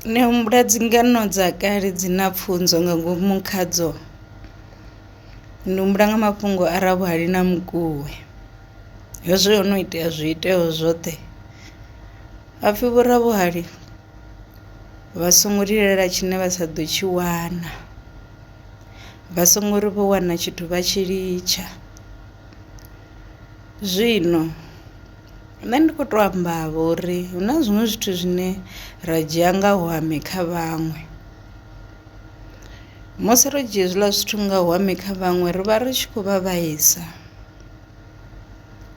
Ndi humbula dzi ngano dza kale dzi na pfunzo nga ngomu khadzo, ndi humbula nga mafhungo a Ravhuhali na Mukuwe. Hezwi ho no itea zwi itea zwoṱhe hapfi vho Ravhuhali vha songo lilela tshine vha sa ḓo tshi wana, vha songo ri vho wana tshithu vha tshi litsha zwino. Nṋe ndi kho to amba vho uri hu na zwiṅwe zwithu zwine ra dzhia nga hwame kha vhaṅwe, musi ro dzhia hezwiḽa zwithu nga hwame kha vhaṅwe ri vha ri tshi khou vha vhaisa.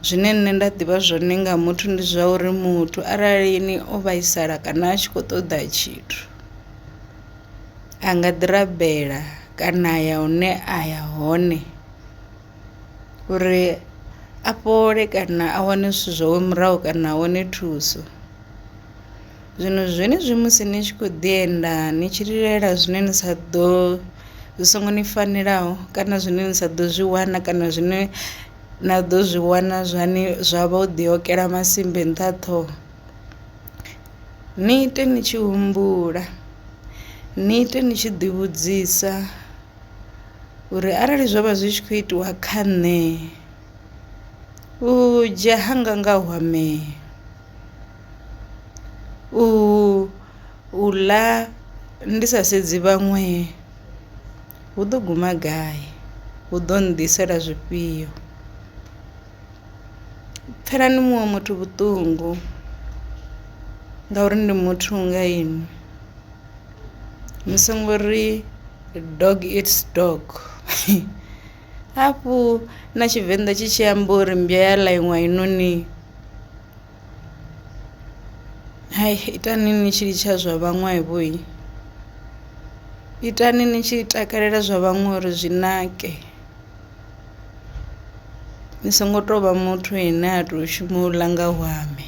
Zwine nṋe nda ḓivha zwone nga muthu ndi zwa uri muthu arali ni o vhaisala kana a tshi kho ṱoḓa tshithu a nga ḓi rabela kana ya hune a ya hone. uri a fhole kana a wane zwithu zwawe murahu kana a wane thuso. Zwino zwenezwi musi ni tshi kho ḓi enda ni tshi lilela zwine ni sa ḓo zwi songo ni fanelaho kana zwine ni sa ḓo zwi wana kana zwine na ḓo zwi wana zwa ni zwa vho ḓi okela masimba nṱha ha ṱhoho, ni ite ni tshi humbula ni ite ni tshi ḓi vhudzisa. uri arali zwo vha zwi tshi khou itiwa kha nṋe u dzhia hanga nga hu amea u u ḽa ndi sa sedzi vhaṅwe hu ḓo guma gai hu ḓo nnḓisela zwifhio. Pfhelani muṅwe muthu vhuṱungu ngauri ndi muthu nga inwi. ni songo ri dog eats dog hafhu na tshivenḓa tshi tshi amba uri mmbwa ya ḽa iṅwe i noni hai itani ni tshi litsha zwa vhaṅwe vho itani ni tshi takalela zwa vhaṅwe uri zwi nake ni songo tovha muthu ane a to shuma u ḽa nga hwaṋe.